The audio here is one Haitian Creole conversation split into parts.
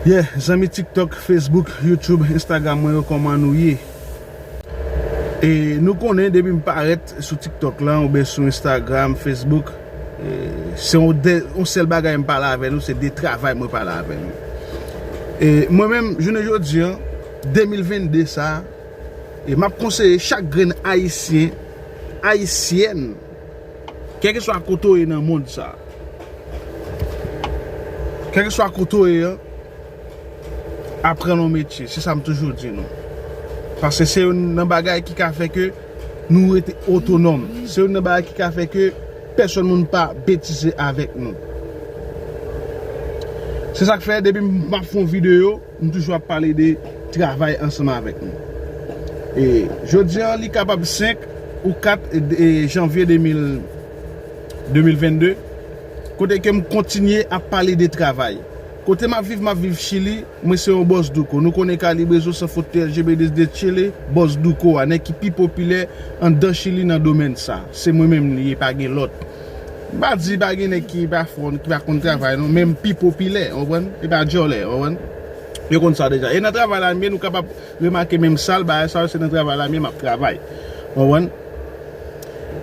Yeah zanmi tiktok, facebook, youtube, instagram mwen yo koman nou ye e nou konnen depi m parèt sou tiktok lan oubyen sou instagram, facebook se yon de yon sèl bagay m pale avè nou se de travay mwen pale avè nou e mwen menm jounen jodi an 2022 sa e map konseye chak grenn ayisyen, ayisyèn. Kèlkeswa kote w ye nan mond sa, kèlkeswa kote w ye an, aprann yon metye, se sa m toujou di nou. Paske se youn nan bagay ki ka fè ke nou rete otonòm, se youn nan bagay ki ka fè ke pèsòn moun pa betize avèk nou. Se sa k fè depi m ap fè yon videyo. Nou toujou ap pale de travay ansanm avèk nou. E jodi an li kapab 5 ou 4 janvye 2022, kote ke m kontinye ap pale de travay. Kote m ap viv, m ap viv Chili, mwen se yon Boss Douko. Nou konnen Kalibrezo San Fot te LGB desde Chile, Boss Douko a, nèg ki pi popilè anndan Chili nan domèn sa. Se mwen menm li ye, pa gen lòt. M pa di pa gen nèg ki pa fò, ki pa konn travay non, men pi popilè, ou konprann, e pa djòlè, ou konprann. Yo konn sa deja. E nan travay la menm, nou kapab remake menm sal, bagay sa yo se nan travay la menm m ap travay. Ou konprann.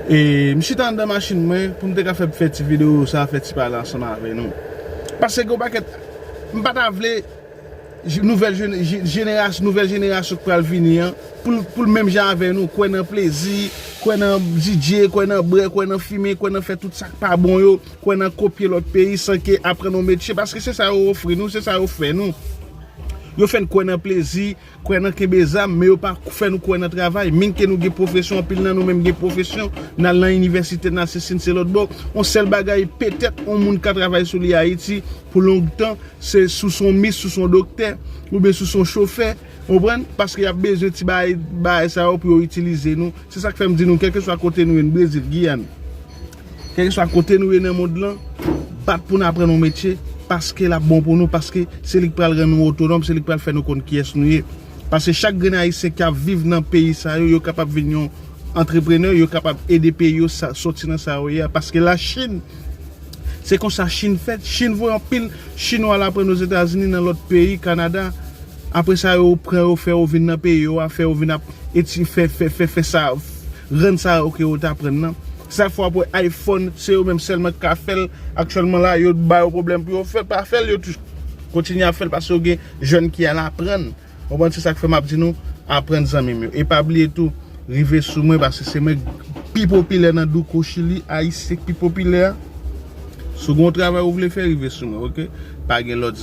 E m chita anndan machin mwen pou m te ka fè ti videyo sa, fè ti pale ansanm avè nou. Pase gen yon pakèt, m pa ta vle. nouvèl jenerasyon nouvèl jenerasyon k pral vini an pou l menm jan avè nou kwè nan plezi kwè nan DJ kwè nan brè kwè nan fimen kwè nan fè tout sa k pa bon yo kwè nan kopye lòt peyi san ke aprann yon metye paske se sa yo ofri nou se sa yo fè nou yo fè n kwè nan plezi. Kwè nan kenbe zam, men yo pa fè nou kwè nan travay. Min ke nou gen pwofesyon, anpil nan nou menm gen pwofesyon, n al nan inivèsite, n al sesi, n se lòtbò. On sèl bagay, petèt, on moun ka travay sou li Ayiti pou long tan, se sou s on mis, sou s on doktè, oubyen sou s on chofè, ou konprann, paske y ap bezwen ti bagay sa yo pou yo itilize nou. Se sa k fè m di nou, kèlkeswa kote nou ye, n Brezil, Giyàn, Kèlkeswa kote nou ye nan mond lan, bat pou n aprann yon metye, paske l ap bon pou nou, paske se li k pral rann nou otonòm, se li k pral fè nou konn kiyès nou ye. Paske chak grenn Ayisyen k ap viv nan peyi sa yo, yo kapab vin yon antreprenè, yo kapab ede peyi yo soti nan sa yo ye a. Paske Lachin, se konsa Chin fèt. Chin voye anpil Chinwa al aprann Ozetazini, nan lòt peyi, Kanada. Apre sa yo pran yo, fè yo vin nan peyi yo a, fè yo vin ap eti fè, fè, fè, fè sa, rann sa yo ke yo t aprann nan. Sa fwa pou iPhone se yo menm sèlman ki ka fèl aktyèlman la yo t bayo pwoblèm pou yo fèl pa fèl yo t kontinye ap fèl paske yo gen jèn ki al aprann ou konprann se sak fè map di nou aprann zanmim yo e pa bliye tou rive sou mwen paske se mwen ki pi popilè nan douko chili ayisyen ki pi popilè a si w gen yon travay ou vle fè rive sou mwen ok pa gen lòt.